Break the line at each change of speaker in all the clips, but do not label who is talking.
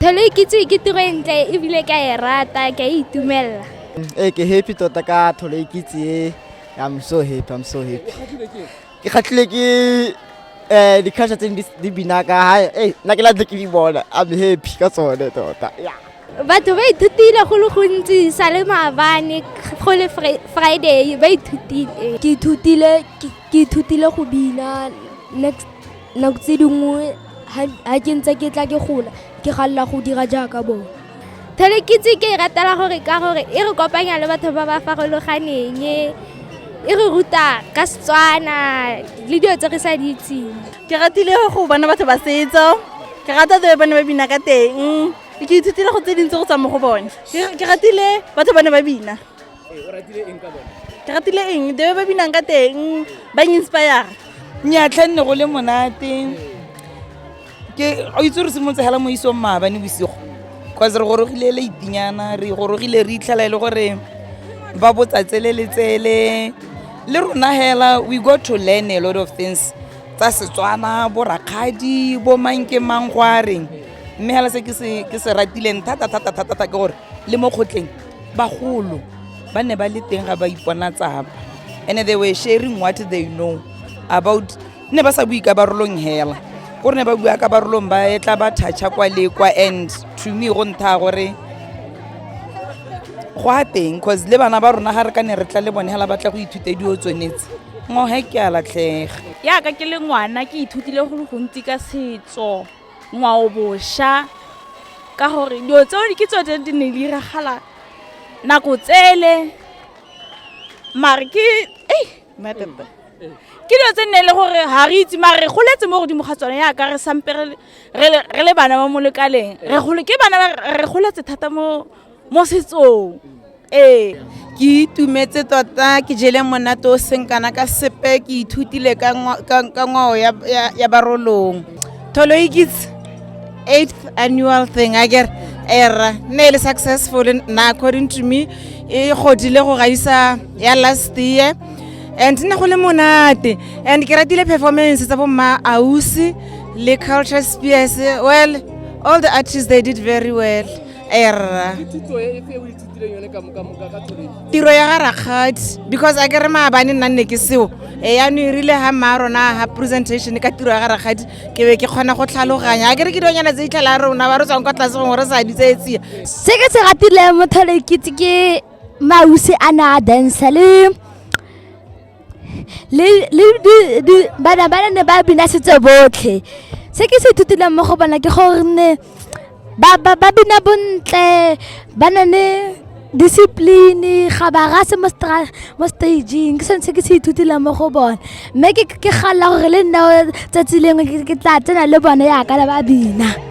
Phelo e kitse ke tiro e ntle ebile ka e rata ka e itumelela. Ee ke happy
tota ka tholo e kitse e I'm so happy I'm so happy. Ke kgatlhile ke eh di-culture tse di bina ka ha eh nna ke latlhe ke di bona I'm happy ka tsone tota. Yeah. batho ba
ithutile go le gontsi sa le maabane go le friday ba ithutile ke ithutile go bina next nako tse dingwe ga ke ntse ke tla ke gola ke galela go dira jaaka bone thelekitse ke e ratela gore ka gore e re kopanya le batho ba ba farologaneng e re ruta ka setswana le dilo tse re sa di itseng ke ratile go
bona batho ba setso ke rata tse bone ba bina ka teng ke ithutile go tse dintsi go tswa mo go bone ke ratile batho bane ba bina
ke ratile eng
debe ba binang ka teng ba inspire nyatlha nne
go le monate ke o itse re simolotse hela mo isong maabane bosigo cause re gorogile le itinyana re gorogile re itlhela e le gore ba botsatsele le tsele le rona hela we go to learn a lot of things tsa setswana bo rakgadi bo mang ke mang go a reng mme hela se ke se ratileng thata thata thata thata ke gore le mo kgotleng bagolo ba ne ba le teng ga ba ipona tsaba and they were sharing what they know about ne ba sa bue ka barolong hela ko re ne ba bua ka barolong ba e tla ba thatšha kwa le kwa and to me go ntha gore go a teng cause le bana ba rona ga re ka ne re tla le bone hela ba tla go ithuta dio tsonetse ngohe ke a latlhega yaka ke le
ngwana ke ithutile go le gontsi ka setso ngwao bosha ka gore dilo tseo ke tso tse di ne di iragala nako tsele mare ke ei matata ke dilo tse nne e le gore ga re itse mare re goletse mo godimo ga tsone yaka re sampe re le bana ba mo lekaleng re gole ke bana re goletse thata mo mo setsong ee
ke itumetse tota ke jele monate o seng kana ka sepe ke ithutile ka ngwao ya barolong tholo e kitse eighth annual thing a kere era ne e le successful na according to me e godile go gaisa ya last year and ne go le monate and ke ratile performance tsa bomma ausi le culture spears well all the artists they did very well erra tiro ya ga rakgadi because a ke re maabane nna nne ke seo e yano e rile ga mmaa rona ga presentation ka tiro ya ga rakgadi ke be ke kgona go tlhaloganya a ke re ke dionyana tse itlhela ya rona ba re tswang kwa tlase gongwe re sa ditseetsia se ke se ratile
mothole kitse ke mause a ne a dansa le le bana ba ne ba bina setso botlhe se ke se ithutileng mo go bona ke gore ne ba bina bontle ba na le discipline ga ba rase mo stageng ke sone se ke se ithutileng mo go bone mme ke galela gore le nna tsatsi lengwe ke tla tsena le bone yaka le ba bina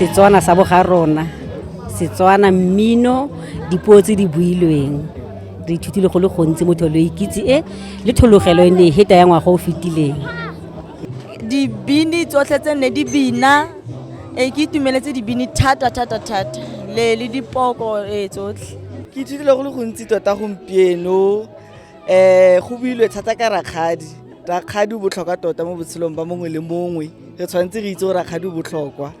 setswana sa boga rona setswana mmino dipuo tse di builweng re ithutile go le gontsi mo tholo ikitse e le thologelo e ne e heta ya ngwaga o fetileng
dibini tsotlhe tse nne di bina e ke itumeletse dibini thata thata thata le le dipoko e tsotlhe ke
ithutile go le gontsi tota gompieno um go builwe thata ka rakgadi rakgadi o botlhokwa tota mo botshelong ba mongwe le mongwe re tshwanetse re itse o rakgadi o botlhokwa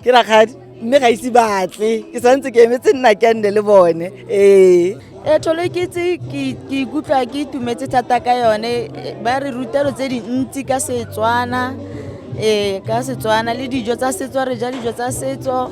ke rakgadi mme ga ise batse ke santse ke emetse nna ke nne le bone ee e
tlholo ke itse ke ikutlwa ke itumetse thata ka yone ba re rutelo tse dintsi ka setswana ee ka setswana le dijo tsa setso re ja dijo tsa setso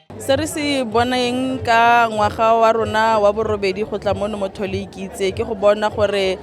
Se re se boneng ka ngwaga wa rona wa borobedi go tla mono mo Thole Ikitse ke go bona gore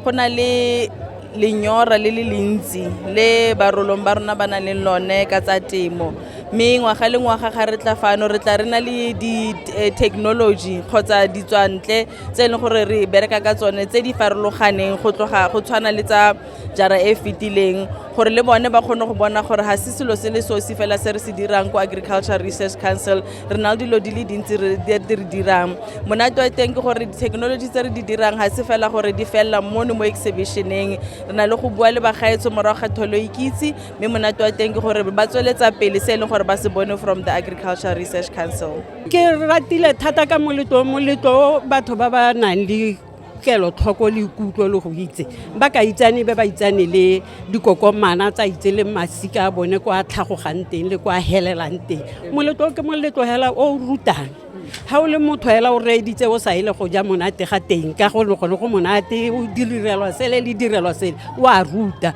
go na le lenyora le le lentsi le barolong ba rona ba nang le lone ka tsa temo mme ngwaga le ngwaga ga re tla fano re tla re na le di-technology kgotsa ditswantle tse e leng gore re bereka ka tsone tse di farologaneng go tloga go tshwana le tsa jara e fetileng gore le bone ba kgone go bona gore ga se selo se le sosi fela se re se dirang ko agriculture research council re na le dilo di le dintsi re re dirang monate wa teng ke gore di-technology tse re di dirang ga se fela gore di felela mono mo exhibitioneng re na le go bua le bagaetsho morago ga tholo ikitse mme monate wa teng ke gore ba tsweletsa pele se e leng gore ba se bone from the agriculture research council ke ratile
thata ka moletlo moletlo batho ba ba nang le kelotlhoko le ikutlo le go itse ba ka itsane ba ba itsane le dikokomana tsa itse le masika a bone kwa tlhagogang teng le kwa helelang teng moletlo ke moletlo hela o rutang ga o le motho hela o reeditse o sa ele go ja monate ga teng ka go le gone go monate o direlwa sele le direlwa sele o a ruta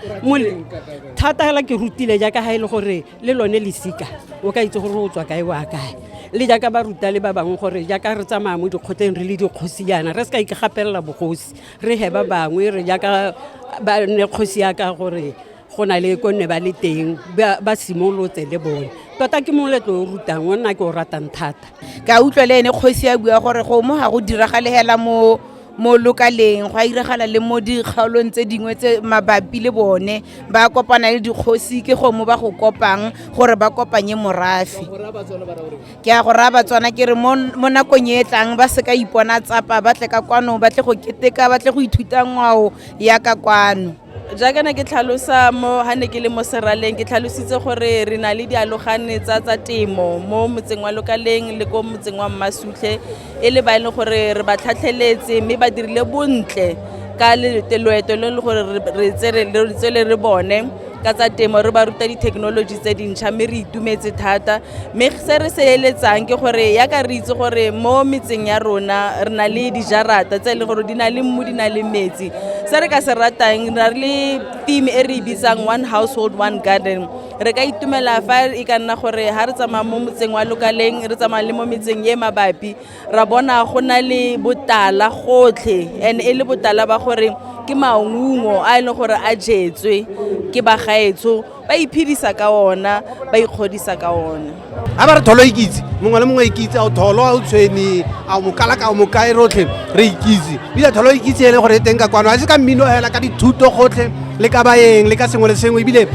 thata hela ke rutile jaaka ga e le gore le lone lesika o ka itse gore o tswa kae wa kae le jaaka ba ruta le ba bangwe gore jaaka re tsamaya mo dikgotleng re le dikgosi yana re se ka ikgapelela bogosi re he ba bangwe re jaaka ba ne kgosi ya ka gore go na le ko nne ba le teng ba simolotse le bone tota ke moletlo o rutang o nna ke o ratang thata ka utlwa le ene
kgosi ya bua gore go mo ga go diragalegela mo mo lokaleng go a iragala le mo dikgaolong tse dingwe tse mabapi le bone ba kopana le dikgosi ke gongwe ba go kopang gore ba kopanye morafe ke a go raya batswana ke re mo nakong e e tlang ba se ka ipona tsapa ba tle ka kwano ba tle go keteka ba tle go ithuta ngwao ya ka kwano jaaka ne ke
tlhalosa mo ha ne ke le mo seraleng ke tlhalositse gore re na le dialogane tsa tsa temo mo motseng wa lokaleng le ko motseng wa mmasutlhe e le ba e leng gore re ba tlhatlheletse mme ba dirile bontle ka loeto le e leng gore re tsele re bone ka tsa temo re ba ruta dithekenoloji tse dintšha mme re itumetse thata mme se re se eletsang ke gore ya ka re itse gore mo metseng ya rona re na le dijarata tse e leng gore di na le mmu di na le metsi se re ka se ratang ra le team e re e bitsang one household one garden re ka itumela fa e ka nna gore ga re tsamaya mo motseng wa lokaleng re tsamaya le mo metseng e mabapi ra bona go na le botala gotlhe and e le botala ba gore ke maungo a e leng gore a jetswe ke bagaetsho ba iphedisa ka ona ba ikgodisa ka ona a ba re tholo
ikitse mongwe le mongwe ikitse ao tholo a o tshweni a mokalaka o mokae rotlhe re ikitse ebile tholo ikitse e le gore e teng ka kwano a se ka mmino fela ka dithuto gotlhe le ka baeng le ka sengwe le sengwe ebile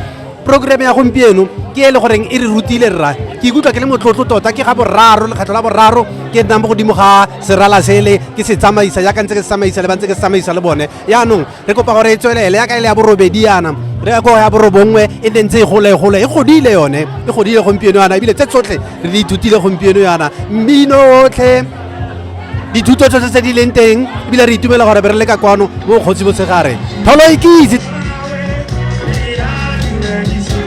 programme ya gompieno ke e le goreng e re rutile rra ke ikutlwa ke le motlotlo tota ke ga boraro lekgetlho la boraro ke nnang mo godimo ga serala sele ke se tsamaisa jaaka ntse ke se tsamaisa le ba ntse ke se tsamaisa le bone yaanong re kopa gore e tswelele ya ka e le ya borobedi yana re ya ko ya borobongwe e nne ntse e gole e gole e godile yone e godile gompieno yana ebile tse tsotlhe re di ithutile gompieno yana mmino otlhe dithuto tsotlhe tse di leng teng ebile re itumela gore be re le ka kwano mo kgotsi botshegare tholo ikitse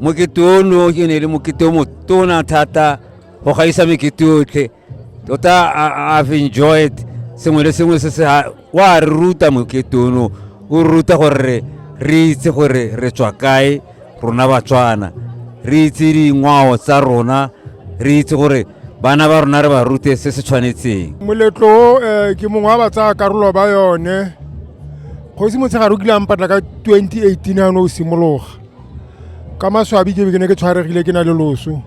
mokete ono e ne e le mokete o motona thata go gaisa mekete yotlhe tota i've enjoyed sengwe le sengwe se se wa re ruta mokete ono o ruta gore re itse gore re tswa kae rona batswana re itse dingwao tsa rona re itse gore bana ba rona re ba rute se se tshwanetseng moletlo o eh,
ke mongwe wa ba tsaya karolo ba yone kgosi motshegare o kile a mpatla ka 2018 ano o simologa ka maswabi ke be ke ne ke tshwaregile ke na le loso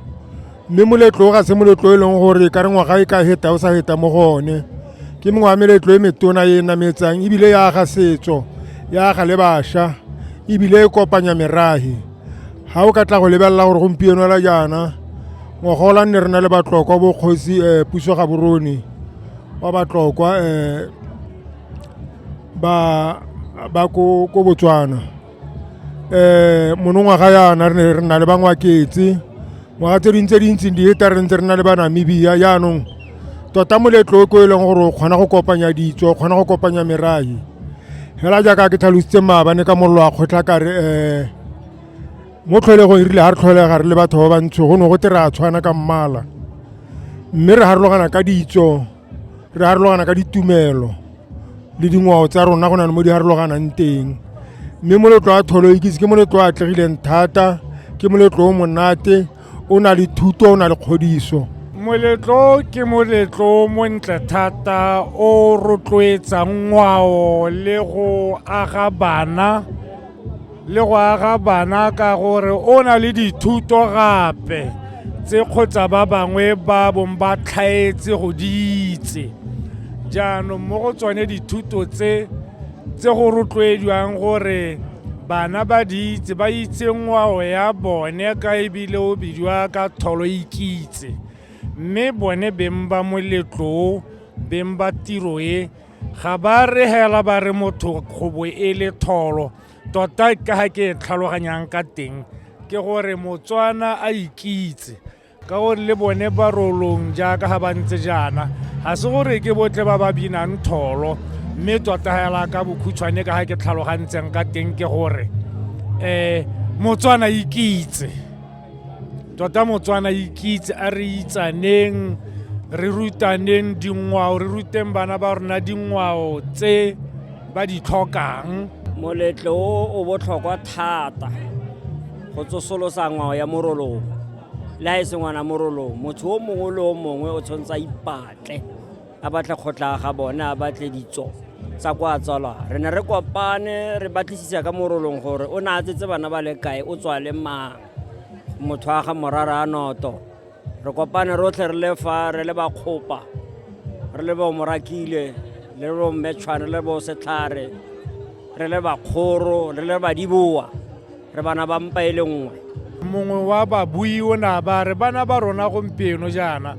mme moletlo o ga se moletlo e leng gore ka re ngwaga e ka heta o sa heta mo go one ke mongwe wa meletlo e metona e nametsang ebile ya aga setso ya aga le bašwa ebile e kopanya meragi ga o ka tla go lebelela gore gompieno la jaana ngwaga ola nne re na le batlokwa bokgosi um eh, puso ga borone wa batlokwa um ba ko botswana um monongwaga yana re ne re nna le bangwaketse ngwaga tse ding tse dintseng di eta re ntse re nna le banamibia jaanong tota moletlo o ko e leng gore o kgona go kopanya ditso o kgona go kopanya merae fela jaaka ke tlhalositse maabane ka mollo wa kgotlha kare um mo tlholegong e rile ga re tlholega re le batho ba bantsho go ne go te re a tshwana ka mmala mme re harologana ka ditso re harologana ka ditumelo le dingwao tsa rona go na le mo di harologanang teng mme moletlo wa tholo ikitse ke moletlo o atlegileng thata ke moletlo o monate o na le thuto o na le kgodiso moletlo
ke moletlo montle thata o rotloetsang ngwao le go aga bana le go aga bana ka gore o na le dithuto gape tse kgotsa ba bangwe ba bong ba tlhaetse go di itse jaanong mo go tsone dithuto tse tse go rotloediwang gore bana ba di itse ba itse ngwao ya bone ka ebile o bidiwa ka tholo ikitse mme bone beng ba moletlo beng ba tiro e ga ba re hela ba re motho kgobo e le tholo tota ka ga ke e tlhaloganyang ka teng ke gore motswana a ikitse ka gore le bone ba rolong jaaka ga ba ntse jaana ga se gore ke botle ba ba binang tholo mme tota hela ka bokhutshwane ka ga ke tlhalogantseng ka teng ke gore um motswana ikitse tota motswana ikitse a re itsaneng re rutaneng dingwao re ruteng bana ba rona dingwao tse ba di tlhokang moletlo o
o botlhokwa thata go tsosolosa ngwao ya morolong le ga e se ngwana morolong motho o mongwe le o mongwe o tshwanetse a ipatle a batle kgotla ga bone a batle ditso tsa kwa tswalwa re ne re kopane re batlisisa ka morolong gore o ne a tsetse bana ba le kae o tswa le mang motho wa ga morara a noto re kopane rotlhe re le fa re le bakgopa re le bomorakile le le bommetshwane le le bosetlhare re le bakgoro re le badiboa re bana ba mpa e le nngwe mongwe wa
babui o ne a ba re bana ba rona gompieno jaana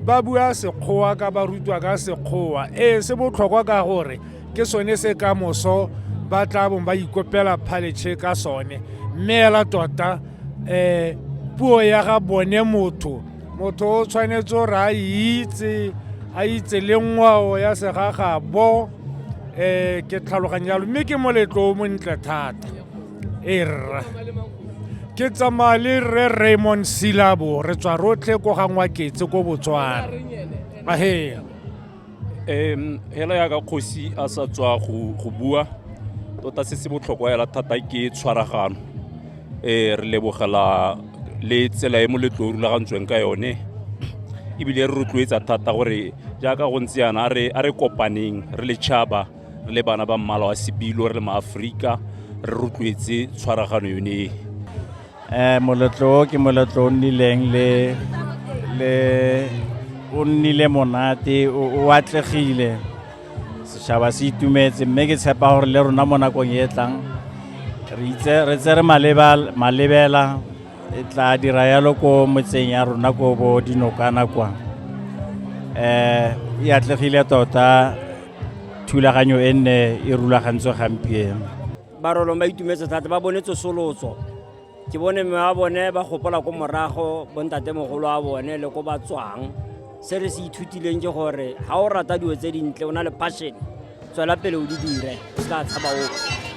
ba bua sekgowa ka ba rutwa ka sekgowa ee se botlhokwa ka gore ke sone se ka moso ba tla bong ba ikopela phaletšhe ka sone mme ela tota um puo ya ga bone motho motho o tshwanetse gore a itse a itse le ngwao ya segagabo um ke tlhaloganya jalo mme ke moletlo o montle thata erra ke tsamaya le rre raymond silabo re tswa rotlhe ko ga ngwaketse ko botswana ahe um
hela yaka kgosi a sa tswa go bua tota se se botlhokwa hela thata ke tshwaragano um re lebogela le tsela e moletlo o rulagantsweng ka yone ebile re rotloetsa thata gore jaaka go ntse yana a re kopaneng re le tšhaba re le bana ba mmala wa sebilo re le maaforika re rotloetse tshwaragano yone e um
moletlo o ke moletlo o nnileng le le o nnile monate o atlegile setšhaba se itumetse mme ke tshepa gore le rona mo nakong e tlang re itse re malebela e tla dira yalo ko motseng ya rona ko bo dinokana kwa um e atlegile tota thulaganyo e nne e rulagantswe gampieno barolong ba
itumetse thata ba bone tsosolotso ke bone mme wa bone ba gopola ko morago bontatemogolo wa bone le ko ba tswang se re se ithutileng ke gore ga o rata dilo tse dintle o na le passion tswela pele o di dire o se ka tshaba ope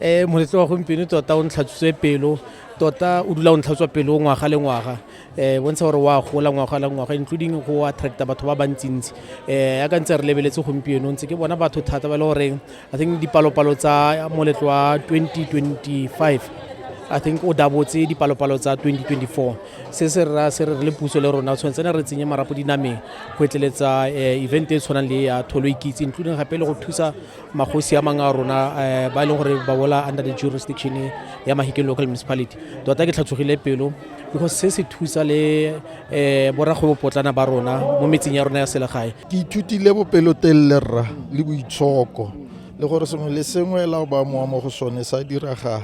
um moletse wa gompieno tota o ntlhatsitswe pelo tota o dula o ntlhatswa pelo ngwaga le ngwaga um bontsha gore wa gola ngwaga le ngwaga including go attracta batho ba bantsintsi um ya ka ntse re lebeletse gompieno ntse ke bona batho thata ba e le goreng i think dipalopalo tsa moletlo wa 2025 i think o dabotse dipalopalo tsa 2024 se se ra se re le puso le rona tshwanetse ne re tsenye marapo dinameng go etleletsa eh, event e tshwanang le ya tholo ikitse including gape le go thusa magosi a mangwe a rona eh, ba e leng gore ba bola under the jurisdiction ya mahike local municipality tota ke tlhatsogile pelo because se se thusa le um eh, boragwebopotlana ba rona mo metseng ya rona ya selegae ke ithutile
bopelotelele rra le boitshoko le gore sengwe le sengwe la ba mowa mo go sone sa diragala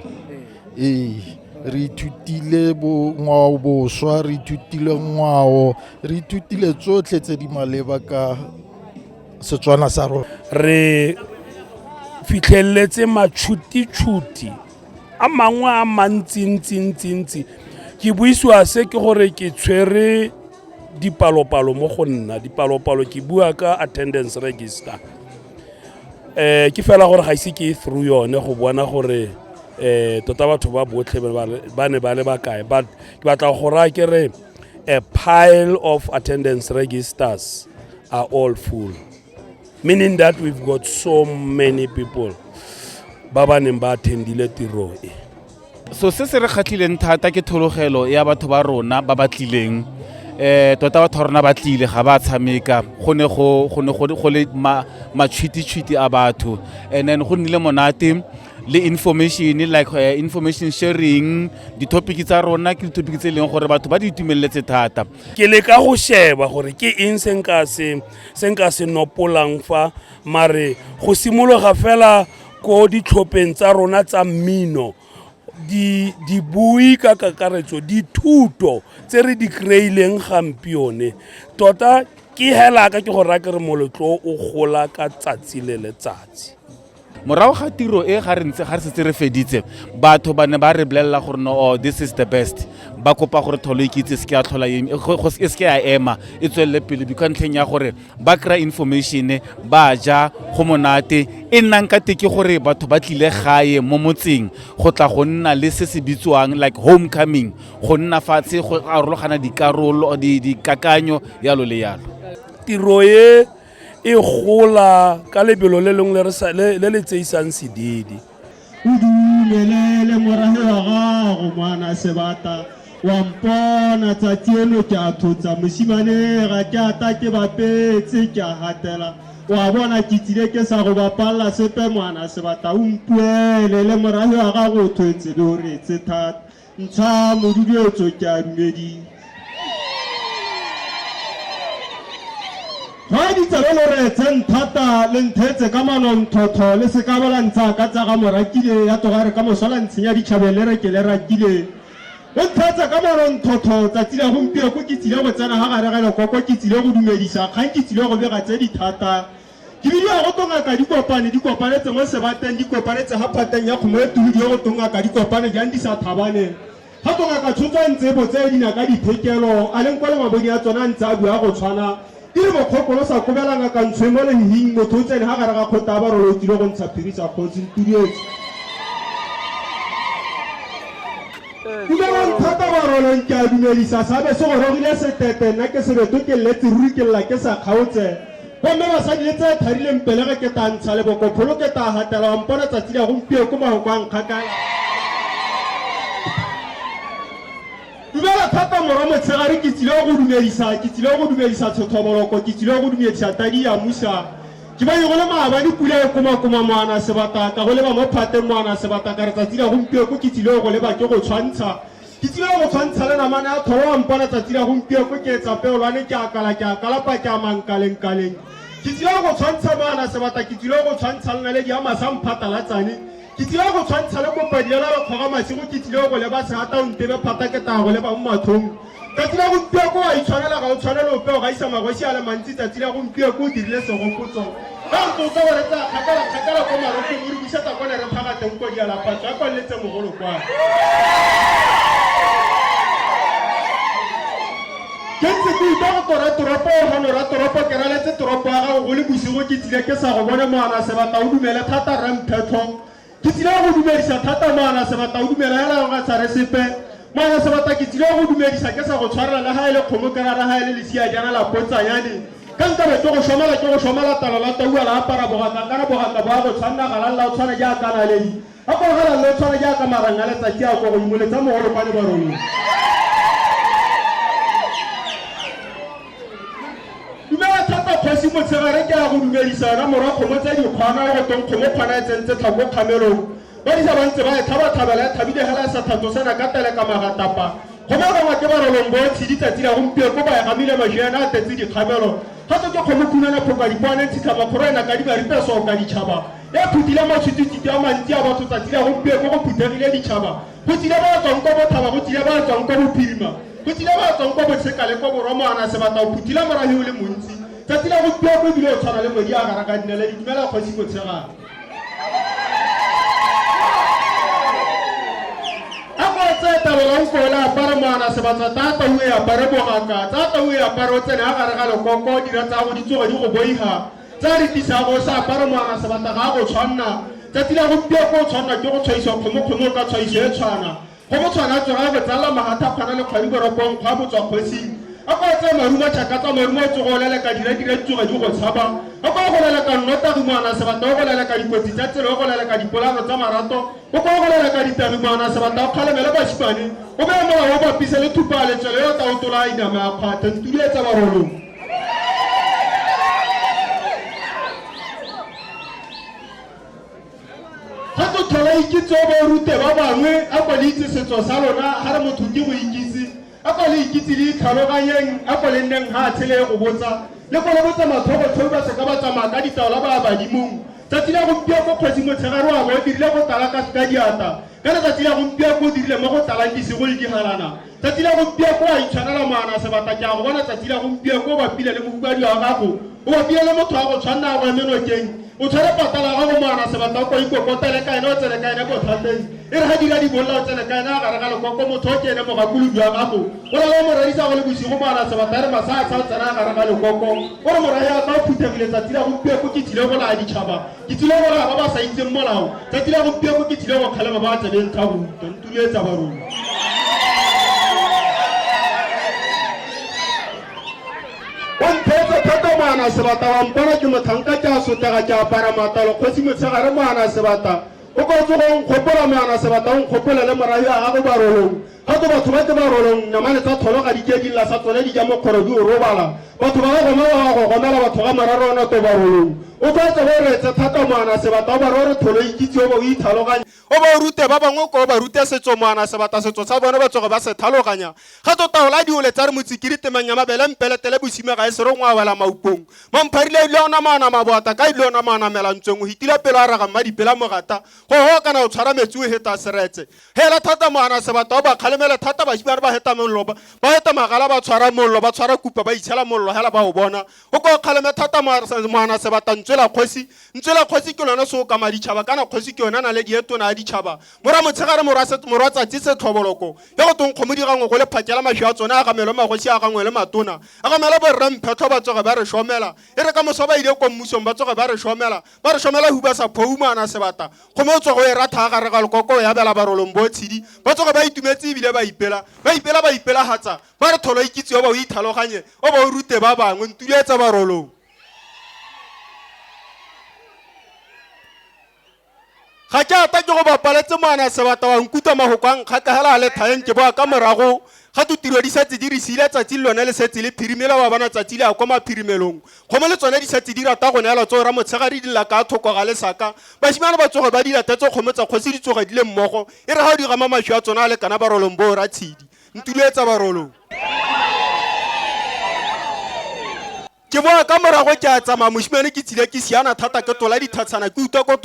ee re ithutile ngwao boswa re ithutile ngwao re ithutile tsotlhe tse di maleba ka Setswana sa rona re
fitlheletse matšhuti-tšhuti a mangwe a mantsi-ntsi-ntsi-ntsi ke buisiwa se ke gore ke tshwere dipalopalo mo go nna dipalopalo ke bua ka attendance register um ke fela gore ga ise ke e through yone go bona gore um tota batho ba botlhe ba ne ba le bakae but ke batla go raya ke re a pile of attendance registers are all full, meaning that we've got so many people ba ba neng ba attendile tiro e. so se se
re kgatlhileng thata ke thologelo ya batho ba rona ba ba tlileng um tota batho ba rona ba tlile ga ba tshameka go ne go le matšhwititšhwiti a batho and then go nnile monate le information like uh, information sharing di-topic tsa rona ke di-topic tse e leng gore batho ba di itumeletse thata ke le ka go
sheba gore ke eng se nka se se nka se nopolang fa mare go simologa fela ko ditlhopheng tsa rona tsa mmino di di bui ka kakaretso di thuto tse re di kreileng gampione tota ke hela ka ke go raya ke re moletlo o gola ka tsatsi le letsatsi morago ga
tiro e ga re ntse ga re setse re feditse batho ba ne ba re bolelela gore no oh, this is the best ba kopa gore tholo ikitse e se ke ya tlhola e, e se ke ya ema e tswelele pele bikwa ntlheng ya gore ba kry-a information ba ja go monate e nnang ka teke gore batho ba tlile gae mo motseng go tla go nna le se se bitswang like home coming go nna fatshe go arologana dikarolo dikakanyo yalo le yalo tiro e
e gola ka lebelo le lengwe le le tseisang sedidi o
dumelele morago wa gago mwana sebata wa mpona tsatsi eno ke a thotsa mosimane ga ke ata ke bapetse ke a gatela wa bona ke tsile ke sa go bapalela sepe mwana sebata o mpuele le morago wa gago o thwetse le o retse thata Ntsha moduduetso ke a dumedi. Fa ditsebe lo re tse nthata le nthetse ka manonthotho le se ka bala ntsha ka tsa ga morakile ya toga re ka moswala ntshenya ditšhabeng le re ke le rakile o nthetse ka manonthotho tsatsi la gompieko ke tsile go tsena ga gare ga lekoko ke tsile go dumedisa kgang ke tsile go bega tse dithata ke bile ya go tongaka dikopane di kopanetse mo sebateng di kopanetse ga phateng ya kgomo e tuhudi ya go tongaka dikopane jang di sa thabaneng ga tongaka tshotso a ntse botse dina ka diphekelo a leng kwa le mabodi a tsona a ntse a bua go tshwana ke re mokgokolo sa kobela ngaka ntsho mo lehing motho o tsene ga gare ga kgota ba rolo o tsile go ntsha phiri sa kgotsi ntudietse dumelang thata ba rolong ke a dumedisa sabe se go rogile setete nna ke sebeto ke lletse ruri ke lla ke sa kgaotse gomme basadi le tse tharileng pele ga keta ntsha leboko pholo keta gatela wa mpona tsatsi la gompieo ko mahoko a nkgakala dumela thata mora motshegare ke tsile go dumedisa ke tsile go dumedisa tshothoboloko ke tsile go dumedisa tadi ya musa ke banye go le maaba di pula e komakoma moana sebata ka go leba mo phateng moana sebata ka re tsatsi la gompieko ke tsile go leba ke go tshwantsha ke tsile go tshwantsha le namane ya tlholo wa mpona tsatsi la gompieno ko ke etsa peolwane ke akala ke akalapa ke amankalengkaleng ke tsile go tshwantsha maana sebata ke tsile go tshwantsha lenaledi ya masa mphatalatsane ke tsile go tshwantsha le kopadiela lekgora masigo ke tsile go leba seata o ntebe phata ke taya go leba mo mathong ka tsile gompieno ko wa itshwanela ga o tshwanele ope o gaisa magosi a le mantsi tsatsi la gompieno ko o dirile segopotso Ka re tlosa wa re tsaya kgakala kgakala kwa marokong o re busetsa kwa ne re phaga teng kwa dialaphatso a kwaleletse mogolo kwa. Ke ntse ke utlwa go tora toropo o gano ra toropo ke raletse toropo ya gago go le bosigo ke tsile ke sa go bone moana sebata o dumele thata rra mphetlho Ke tsile go dumedisa thata moana sebata o dumela ya la ga tshware sepe moana sebata ke tsile go dumedisa ke sa go tshwarela le ga e le kgomo kera ra ga e le lesia jana la pontsanyane ka nkabe ke go shomela ke go shomela talo la taua la apara bogaka ka re bogaka bo a go tshwanna ga la o tshwana jaaka naledi a gore ga la le o tshwana jaaka marang a letsatsi a ko godimo letsa mogolo kwa lebarolong dumela thata kgosi motshegare ke ya go dumedisa yona morwa kgomo tse dikgwana le go tong kgomo kgwana e tsentse tlhako kgamelong ba disa ba ntse ba e tlhabatlhabela e tlhabile gela sa thato sena ka tele ka magatapa kgomo e gangwa ke barolong bo tshedi tsatsi la gompieno ko ba e gamile mašeana a tetse dikgamelo gape ke kgomo khunana phoka dikwane ntshitlha makgoro ena ka dibaripesoo ka ditšhaba e phutile matshwitititi a mantsi a batho tsatsi la gompieno go phuthegile ditšhaba Go tsile ba tswang kwa Bothaba, go tsile ba tswang kwa Bophirima, go tsile ba tswang kwa Botsheka le kwa Borwa moana sebata o phuthile morahi o le montsi. Tsatsi la gompieno ko ebile o tshwana le modi a gara ka dinele ditumela kgosi motshegana. tse tabelang ko le apare moana sebatsa tata o e apare bogaka tata o e apare o tsene a gare ga lekoko dira tsa go di tsoge di go boiga tse a re tlisang o sa apara moana sebata ga a go tshwanna tsatsi la gompiego o tshwanna ke go tshwaisiwa kgomokgomo ka tshwaiso e tshwana go mo tshwana tsoga go tsala magatha kgwana le kgwadi boropong kgwa botswa kgosing a kwa tse marumo tšhaka tsa marumo o tsogo o leleka diradira ditsoga di go tshaba a kwa go leleka nnotagi moana sebata o go leleka dikotsi tsa tsela o go leleka dipolano tsa marato o kwa go leleka ditagi moana sebata o kgalemele basimane o beye molao o bapise le thupa letswelo yo taotola a iname a kgwatha ntudi e tsa barolong ga go tlhola ikitse o bo rute ba bangwe a kwa le itse setso sa lona ga re motho ke go ikitse a kwa le ikitse le itlhaloganyeng a kwa le nneng ga a tshele go botsa le go le botsa mathogo tlhobi ba seka ba tsamaya ka ditaola ba badimong tsatsi la gompieno ko kgosi motshegare wa bo o dirile go tala ka ka diata ka letsatsi la gompieno ko o dirile mo go talang disegoledingalana Tsatsi la gompieko a itshwanela moana sebata ke a go bona tsatsi la gompieko o bapile le mohumadi wa gago o bapile le motho wa go tshwanna ya go emenokeng o tshwere patala ya gago moana sebata o kwa ikokotele ka ene o tsene ka ene botlhwateng e re ga dira dibolla o tsene ka ene a gare ga lekoko motho o ke ene mogakolobi wa gago o na le o moredisa go le bosigo moana sebata e re masatsha o tsena a gare ga lekoko o re morae a tla o phuthegile tsatsi la gompieko ke tsile go laya ditšhaba ke tsile go raya ba ba sa itseng molao tsatsi la gompieno ke tsile go kgalema ba tsebeng ka ruta ntuletsa ba rona ontheetse thata moana sebata wa mpona ke motlhanka ke a sotega ke apara matalo kgosi motshegare moana sebata o ka tsogong kgopola moana sebata o nkgopola le morahi a gago barolong Ka tso batho ba tse ba rolong namane tsa tholo ga dikedi la sa tsone di ja mokgoro di o robala. Batho ba ba goma ba ba go gomela batho ga mararo ona to ba rolong. O tlo tse ba retse thata moana sebata o ba rore tholo ikitse o ba o ithaloganya. O ba o rute ba bangwe ko o ba rute setso moana sebata setso sa bone ba tsoge ba se thaloganya. Ga tso taola diole tsa re motsikiri temang ya mabele mpeletele bosime ga e sere ngwa wela maupong. Mampharile ile ona maana maboata ka ile ona maana melantsweng o hitile pelo a raga mmadipela mogata. Go ho kana o tshwara metsi o heta seretse. Hela thata moana sebata o ba kgalemela thata bashimane ba heta mollo ba ba heta magala ba tshwara mollo ba tshwara kupa ba itshela mollo hela ba o bona o ka o kgaleme thata moana sebata ntswela kgosi ntswela kgosi ke lone se o ka maditšhaba kana kgosi ke yone na le dietona ya ditšhaba mora motshegare morwa set- morwa tsatsi se tlhoboloko ya go tong kgomo dirangwe go le phakela mašwi a tsone a gamelo magosi a gangwe le matona a gamelo borre mphetlho ba tsoge ba re šomela e re ka moso ba ile ko mmusong ba tsoge ba re šomela ba re shomela huba sa phoumana sebata go mo tswa go e ratha gare ga lekoko ya bela barolong bo tshedi ba tsoga ba itumetse ebile ba ipela ba ipela ba ipelagatsa ba re tholo ikitse o ba o ithaloganye o ba o rute ba bangwe ntuletsa barolong ga ke ata ke go bapaletse moana sebata wa nkutlwa magoko a nkgakagela a le thaeng ke boa ka morago ga to tiro di setse di re siile tsatsi le lone le setse le phirimela wa bona tsatsi le ya kwa maphirimelong kgomo le tsone di setse di rata go neela tso ra motshegare di lela ka thoko ga lesaka basimane ba tsoge ba di latetse kgomo tsa kgosi di tsoge di le mmogo e re ga o di gama maswi a tsona a lekana barolong bo ra tshedi ntulo etsa barolong ke boa ka morago ke a tsamaya mosimane ke tsile ke siana thata ke tola dithatshana ke utlwa go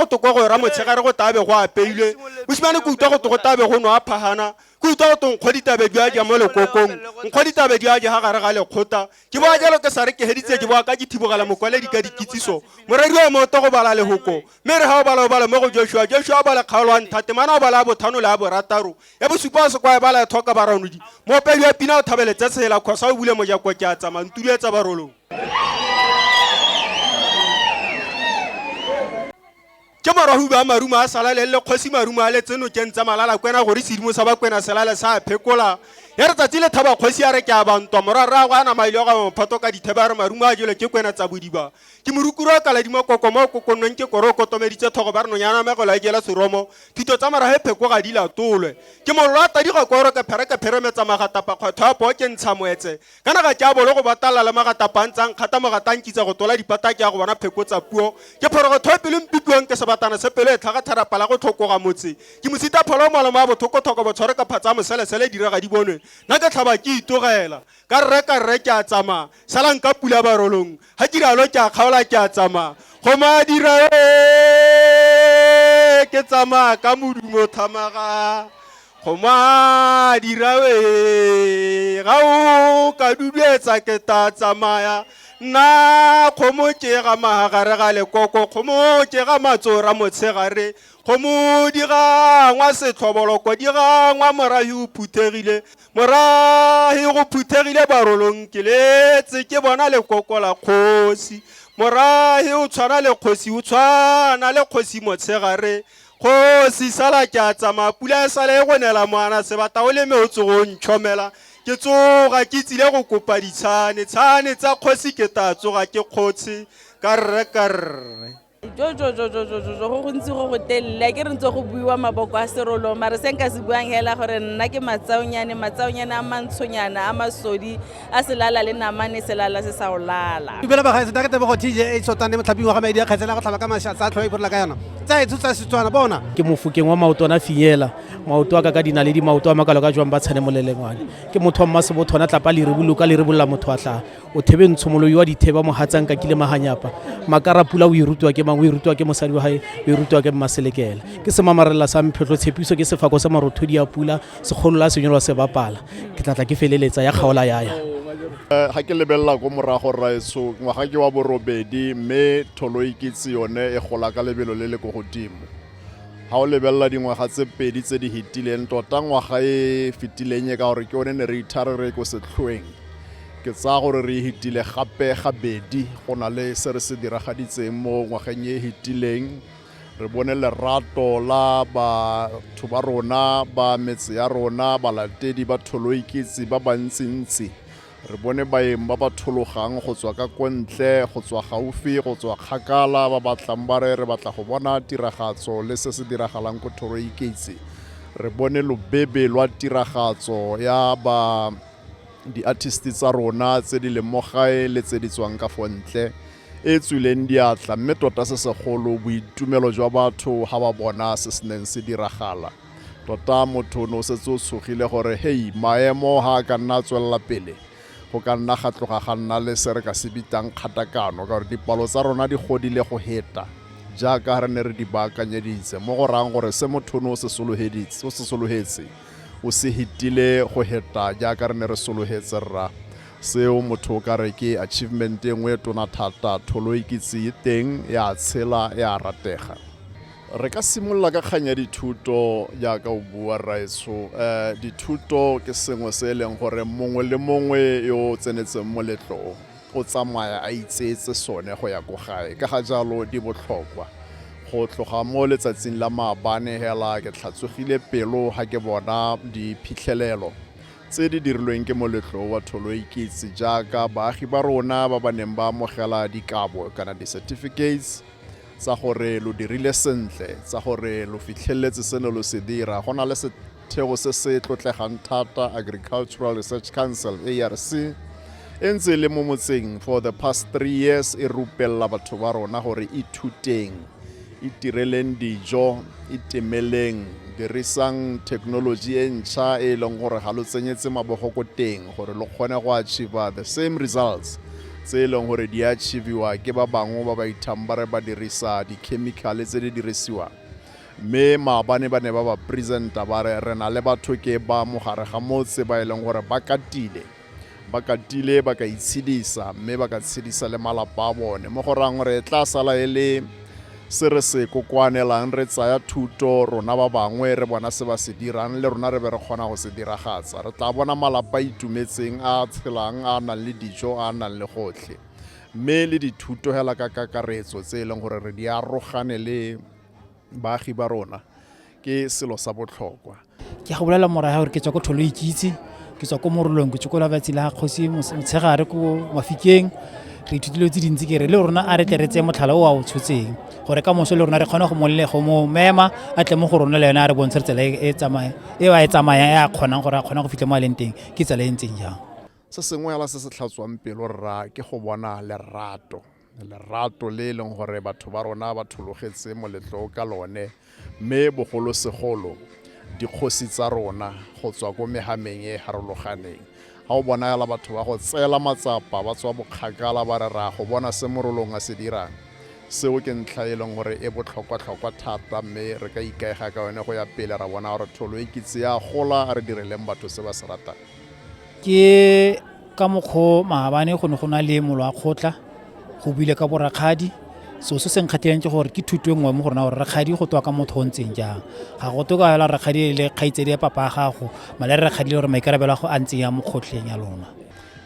toko go ra motshegare go tabe go apeilwe mosimane ke utlwa go togo tabe go nwa phagana ke utlwa go tong kgwa ditabe di a ja mo lekokong nkgwa ditabe di a ja ga gare ga lekgota ke boa jalo ke sa re ke heditse ke boa ka ke thibogela mokwaledi ka dikitsiso moredi wa moto go bala lehoko mme re ga o bala o bala mo go joshua joshua o bala kgaolo wa nthate mana o bala bothano le a borataro ya bosupa wa sekwae bala ya tlhoka baranodi moopedi wa pina o thabeletse tsela kgosa o bule mojako ke a tsamaya ntulu etsa barolong ke morago ba marumo a salale le kgosi marumo a letseno keng tsa malala kwena gore sedimo sa bakwena selale sa phekola ya re tsatsi le thaba kgosi ya re ke a bantwa morarrago a namaile ga mophato ka dithebe a re marumo a jelo ke kwena tsa bodiba ke morukuru a kaladima koko mo o kokonnweng ke koro o kotomeditse thogo ba re nonyana megolo a e jela seromo thito tsa morago e pheko ga di latolwe ke mollo a tadiga koro ke phere ke pheremetsa magatapa kgwetho a poo ke ntsha moetse ka naga ke a bolo go batalala le magatapa a ntsang kgata mogata nkitsa go tola dipata ke ya go bona pheko tsa puo ke phorogotho e pelo mpipiwang ke sebatana se pelo e tlhaga tharapa la go tlhokoga motse ke mosita pholo o molomo a bothokothoko botshware ka phatsa a moselesele direga di bonwe nna ke tlhaba ke itogela ka rre ka rre ke a tsamaya salang ka pula barolong ga diralo ke a kgaola ke a tsamaya go madira ke tsamaya ka modumo thamaga go madirawe ga o ka duduetsa ke ta tsamaya nna kgomo ke ga magare ga lekoko kgomo ke ga matsora motshegare kgomo di gangwa setlhoboloko di gangwa morahi o phuthegile morahi go phuthegile barolong ke letse ke bona lekoko la kgosi morahi o tshwana le kgosi o tshwana le kgosi motshegare kgosi sala ke a tsamaya pula e sale e go nela moana sebata o leme o tsogo o ntšhomela ke tsoga ke tsile go kopa ditshane tshane tsa kgosi ke taa tsoga ke kgotshe karre karre
jojojojojojo go gontsi go go telele ke re ntse go buiwa maboko a serolo mare se nka se buang hela gore nna ke matsaonyane matsaonyane a mantshonyana a masodi a selala le namane selala se sa olala dumela bagae setake tebogo
tj a tshotane motlhaping wa ga maedi a kgetsela go tlhaba ka masha tsa tlhoa iphorola ka yona tsa e tshotsa setswana bona ke mofokeng wa maoto
ana finyela maoto a ka ka dina le dimaoto a makalo ka jwang ba tshane molelengwane ke motho wa mmasebothona tlapa le reboloka le rebolla motho a tlhaa o thebe ntshomo yo wa ditheba mohatsang ka kile maganyapa makara pula o e rutwa ke mang o e rutwa ke mosadi wa gae o e rutwa ke mmaselekela ke semamarela sa mphetlho tshepiso ke sefako sa marothodi a pula segolo la senyolwa se bapala ke tlatla ke feleletsa ya kgaola yaya ga eh, ke
lebelela ko morago raetso ngwaga ke wa borobedi mme tholo e kitse yone e gola ka lebelo le le ko godimo ga o lebelela dingwaga tse pedi tse di fetileng tota ngwaga e fetileng e ka gore ke one ne re ithare re ko setlhoeng Ke tsaya gore re hitile gape gabedi go na le se re se diragaditseng mo ngwageng e hitileng. Re bone lerato la batho ba rona ba metse ya rona, balatedi ba tholoikitse ba bantsintsi. Re bone baeng ba ba thologang go tswa ka kontle, go tswa gaufi, go tswa kgakala ba ba tlang ba re re batla go bona tiragatso le se se diragalang ko tholoikitse. Re bone lobebe lwa tiragatso ya ba di-artist tsa rona tse di leng mo gae le tse di tswang ka fo ntle e tswileng diatla mme tota se segolo boitumelo jwa batho ga ba bona se se neng se diragala tota motho no setse o tshogile gore hei maemo ga a ka nna a tswelela pele go ka nna ga tloga ga nna le se re ka se bitang kgatakano ka gore dipalo tsa rona di godile go heta jaaka re ne re di baakanyeditse mo go rayang gore se motho no o se sologetse o se hitile go heta jaaka re ne re sologetse rra seo motho o ka re ke achievement e nngwe e tona thata tholo e kitse e teng ya tshela ya ratega re ka simolola ka kgang ya dithuto jaaka o bua rraetsho um eh, dithuto ke sengwe se e leng gore mongwe le mongwe yo o tsenetseng moletlong o tsamaya a itseetse sone go ya ko gae. Ka ga jalo di botlhokwa. Go tloga mo letsatsing la maabane hela ke tlhatsogile pelo ga ke bona diphitlhelelo tse di dirilweng ke moletlo wa Tholoikitse jaaka baagi ba rona ba ba neng ba amogela dikabo kana di-certificates tsa gore lo dirile sentle, tsa gore lo fitlheletse se ne lo se dira, go na le Setheo se se tlotlegang thata Agricultural Research Council, ARC, e ntse e le mo motseng for the past three years e rupelela batho ba rona gore ithuteng itireleng dijo itemeleng dirisang technology e ntšha e e leng gore ga lo tsenyetse mabogo ko teng gore lo kgone go achieva the same results tse e leng gore di achieviwa ke ba bangwe ba ba ithang ba re ba dirisa dikhemikhale tse di dirisiwang mme maabane ba ne ba ba presenta ba re re na le batho ke ba mogare ga motse ba e leng gore ba katile ba katile ba ka itshedisa mme ba ka tshedisa le malapa a bone mo go rang gore e tla sala e le se re se kokoanelang re tsaya thuto rona ba bangwe re bona se ba se dirang le rona re be re kgona go se diragatsa re tla bona malapa itumetseng a tshelang a nang le dijo a nang le gotlhe mme le dithuto hela ka kakaretso tse e leng gore re di arogane le baagi ba rona ke selo sa botlhokwa ke go bolela
morae gore ke tswa ko tholo ikitse ke tswa ko morolong ke tswa ko labatsi la kgosi motshegare ko mafikeng re ithutile tse dintsi ke re le rona a re tle re tseye motlhala o a o tshotseng gore ka moso le rona re kgone go molle go mo mema a tle mo go rona le yone a re bontshe tsela e, e tsamaya e a e tsamaya e a kgonang gore a kgone go fitlha mo a leng teng ke tsela e ntseng jang se sengwe ala se
se tlhatswang pelo rra ke go bona lerato lerato le e leng gore batho ba rona ba thologetse moletlo ka lone mme bogolosegolo dikgosi tsa rona go tswa ko megameng e e harologaneng ga o bonagala batho ba go tseela matsapa ba tswa bokgakala ba re ra go bona se morolong a se dirang seo ke ntlha e leng gore e botlhokwa-tlhokwa thata mme re ka ikaega ka yone go ya pele ra bona gore tholo e kitse ya gola a re direleng batho se ba se ratang Ke
ka mokgwa o maabane go ne go na le molo wa kgotla go buile ka borakgadi so se se nkgatlhileng ke gore ke thuto e nngwe mo go rona gore rakgadi go twa ka motho o ntseng jang ga go to ka fela rakgadi e le kgaitsedi ya papa a gago male re rakgadi le gore maikarabelo a go a ntseng ya mo kgotlheng ya lona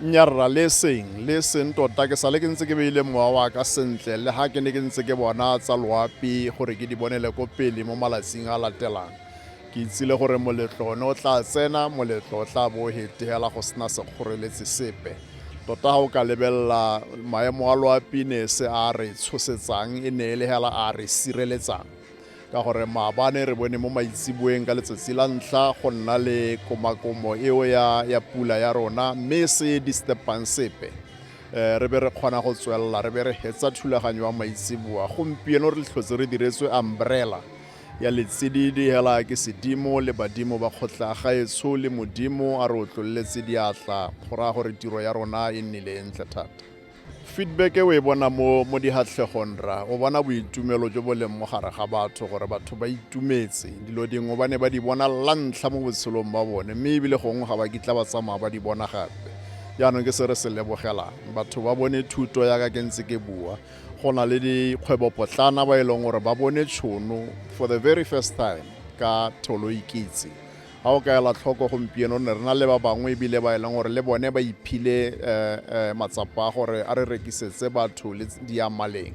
nyarra le
seng le seng tota ke sale ke ntse ke beile mowa wa ka sentle le ga ke ne ke ntse ke bona tsa loapi gore ke di bonele ko pele mo malatsing a latelang ke itsile gore moletlo one o tla tsena moletlo o tla bo o hetela go sena sekgoreletsi sepe tota ga o ka lebelela maemo a loapinese a re tshosetsang e ne e le hela a re sireletsang ka gore maabane re bone mo maitseboeng ka letsatsi la ntlha go nna le komakomo eo ya, ya pula ya rona mme e se disturbang sepe um re be re kgona go tswelela re be re hetsa thulaganyo ya maitseboa gompieno re tlhotse re diretswe umbrella ya letsididi hela ke sedimo le badimo ba kgotla gaetsho le modimo a re otlolletse diatla go raya gore tiro ya rona e nnile e ntle thata feedback e o e bona mo mo dihatlhegong ra o bona boitumelo jo bo leng mo gare ga batho gore batho ba itumetse dilo dingwe ba ne ba di bona la ntlha mo botshelong ba bone mme ebile gongwe ga ba kitla ba tsamaya ba di bona gape jaanong ke se re se lebogelang batho ba bone thuto yaka ke ntse ke bua go na le dikgwebopotlana ba e leng gore ba bone tšhono for the very first time ka tholo ikitse ga o ka ela tlhoko gompieno ne re na le ba bangwe ebile ba e leng gore le bone ba iphile eh, eh, matsapa a gore a re rekisetse batho le diamaleng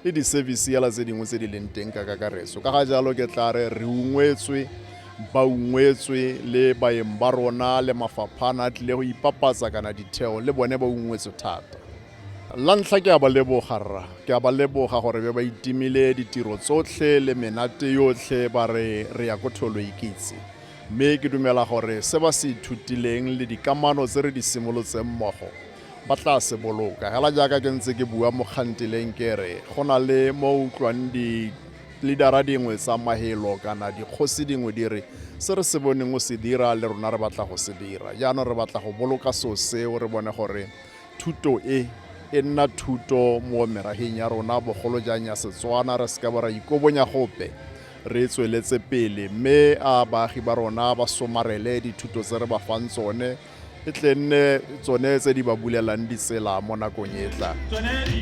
le di-service yala tse dingwe tse di leng teng ka kakaretso ka ga jalo ke tla re re ungwetswe ba ungwetswe le baeng ba rona le mafaphana a tlile go ipapatsa kana ditheo le bone ba ungwetswe thata la ntlha ke a ba leboga rra ke a ba leboga gore be ba itimile ditiro tsotlhe le menate yotlhe ba re re ya ko tholo ikitse mme ke dumela gore se ba se ithutileng le dikamano tse re di simolotseng mmogo ba tla se boloka hela jaaka ke ntse ke bua mo kgantileng ke re go na le mo utlwang di-leadera dingwe tsa mahelo kana dikgosi dingwe di re se re se boneng o se dira le rona re batla go se dira jaanong re batla go boloka so seo re bone gore Thuto e e nna thuto mo meraheng ya rona bogolo jang ya Setswana, re seka ba ra ikobonya gope, re tsweletse pele mme a baagi ba rona ba somarele dithuto tse re ba fang tsone e tle nne tsone tse di ba bulelang ditsela mo nakong e e tlang.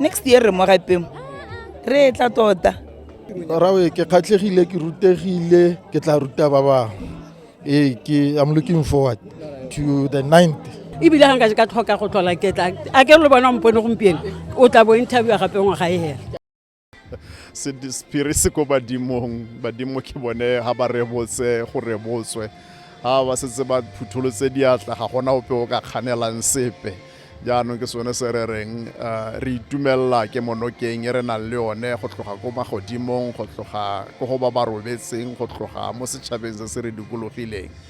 next year re mo gapeng re e tla tota rawe
ke kgatlhegile ke rutegile ke tla ruta ba bangwe ee ke i'm looking forward to the ninth ebile ga nka ka tlhoka
go tlhola ketla a ke re le bona mpone gompieno o tla bo interviewa gape ngwaga e hela sephiri
se ko badimong badimo ke bone ga ba rebotse go rebotswe ga ba setse ba phutholotse diatla ga gona ope o ka kganelang sepe jaanong ke sone se re reng eh, re itumelela ke monokeng e re nang le yone go tloga ko magodimong go tloga ko go ba ba robetseng go tloga mo setšhabeng se se re dikologileng